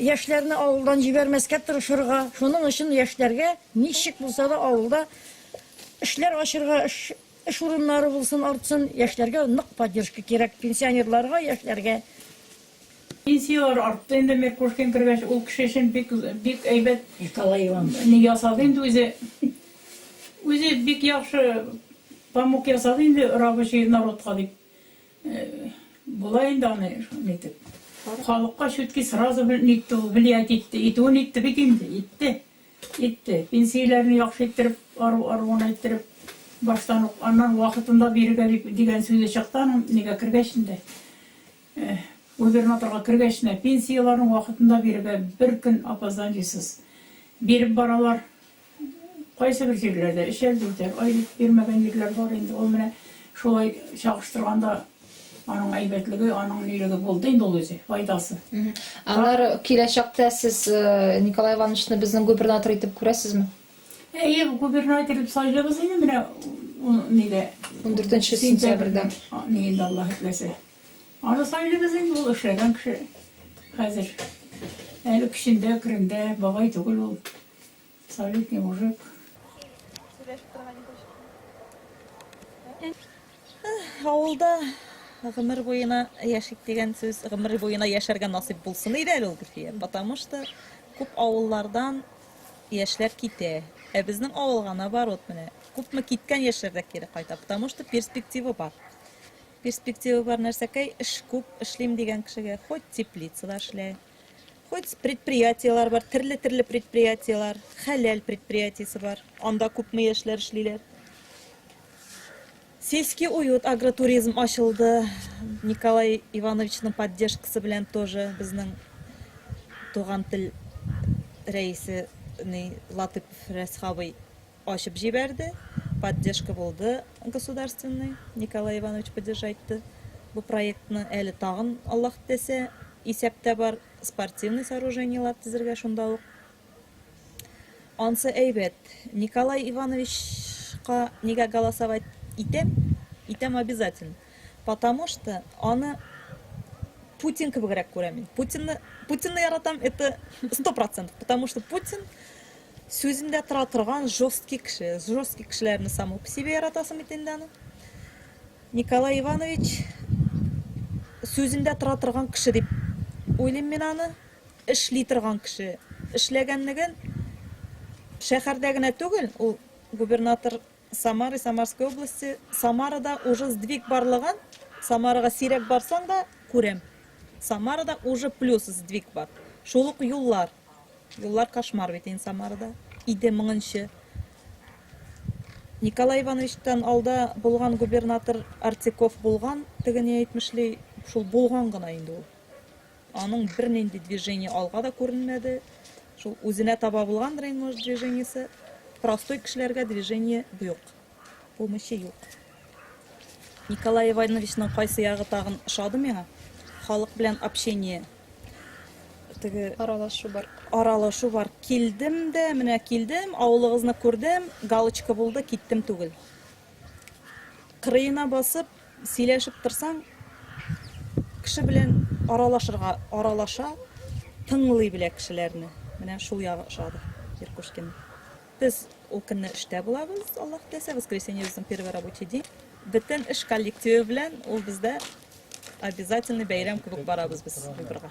Яшьләрне авылдан җибәрмәскә тырышырга, шуның өчен яшьләргә ничек булса да авылда эшләр ачырга, эш урыннары булсын, артсын, яшьләргә нык поддержка кирәк, пенсионерларга, яшьләргә. Пенсияләр артты инде Меркушкин кергәч, ул кеше өчен бик, бик әйбәт ни ясады инде үзе. Үзе бик яхшы помог ясады инде рабочий народка дип. Болай инде аны нитеп. Халыкка чүтки сразу нитте ул, влиять итте. Итүен итте бит инде, итте. Итте. Пенсияләрне яхшы иттереп, ару-аруын әйттереп, баштан ук, аннан вакытында бирергә дип дигән сүзе чыкты аның, нигә кергәч инде, губернаторга кергәч нә, пенсияләрен вакытында бирергә, бер көн опозданиесыз биреп баралар. Кайсыбер җирләрдә эчәрлек-дә айлык бирмәгән җирләр бар инде. Ул менә шулай чагыштырганда аның әйбәтлеге, аның нилеге булды инде ул үзе, файдасы. Аннары киләчәктә сез Николай Ивановичны безнең губернатор итеп күрәсезме? Әйе, губернатор итеп сайлыйбыз инде менә нидә. 14 сентябрьдә. Ни инде Аллаһ итмәсә. Аны сайлыйбыз инде, ул эшләгән кеше хәзер. Әле көчендә, керендә, бабай түгел ул. Советный мужик. Авылда гомер буена яшик дигән сүз, гомер буена яшәргә насыйп булсын иде әле ул Гөлфия. Потому что күп авыллардан яшьләр китә. Ә безнең авылга наоборот менә. Күпме киткән яшьләр дә кире кайта, потому что перспектива бар. Перспектива бар нәрсәкәй, эш күп, эшлим дигән кешегә хоть теплицада эшлә, Хоть предприятиеләр бар, терле-терле предприятиеләр, хәләл предприятиесе бар. Анда күпме яшьләр эшлиләр. Сельский уют агротуризм ачылды. Николай Ивановичның поддержкасы белән тоже безнең туган тел рәисе Латыпов Рәсхабый ачып җибәрде, поддержка булды государственный, Николай Иванович поддержайтты бу проектны, әле тагын Аллаһ теләсә исәптә бар спортивный сооружениелар тезергә шунда ук. Ансы әйбәт. Николай Ивановичка нигә голосовать итәм? Итәм обязательно. Потому что аны Путин кебегрәк күрәм мин. Путинны, Путинны яратам, это сто процентов, потому что Путин Сүзендә тора торган жёсткий кеше. Жёсткий кешеләрне само по себе яратасым бит инде аны. Николай Иванович сүзендә тора торган кеше дип уйлыйм мин аны. Эшли торган кеше. Эшләгәнлеген шәһәрдә генә түгел, ул губернатор Самары, Самарской области, Самарада уже сдвиг барлыгын, Самарага сирәк барсаң да күрәм. Самарада уже плюс сдвиг бар. Шул ук юллар. Юллар кошмар бит инде Самарада. Иде моңынчы. Николай Ивановичтан алда булган губернатор Артеков булган, теге ни әйтмешли, шул булган гына инде ул. Аның бернинди движение алга да күренмәде. Шул үзенә таба булгандыр инде, может, движениесе. Простой кешеләргә движение юк. Помощи юк. Николай Ивановичның кайсы ягы тагын ошады миңа? Халык белән общение. Теге аралашу бар. Аралашу бар. Килдем дә, менә килдем, авылыгызны күрдем, галочка булды, киттем түгел. Кырыена басып, сөйләшеп торсаң, кеше белән аралашырга, аралаша, тыңлый белә кешеләрне. Менә шул ягы ошады Иркушкин. Без ул көнне эштә булабыз, Аллаһ теләсә, воскресенье безнең первый рабочий день. Бөтен эш коллективы белән ул бездә обязательный бәйрәм кебек барабыз без выборга.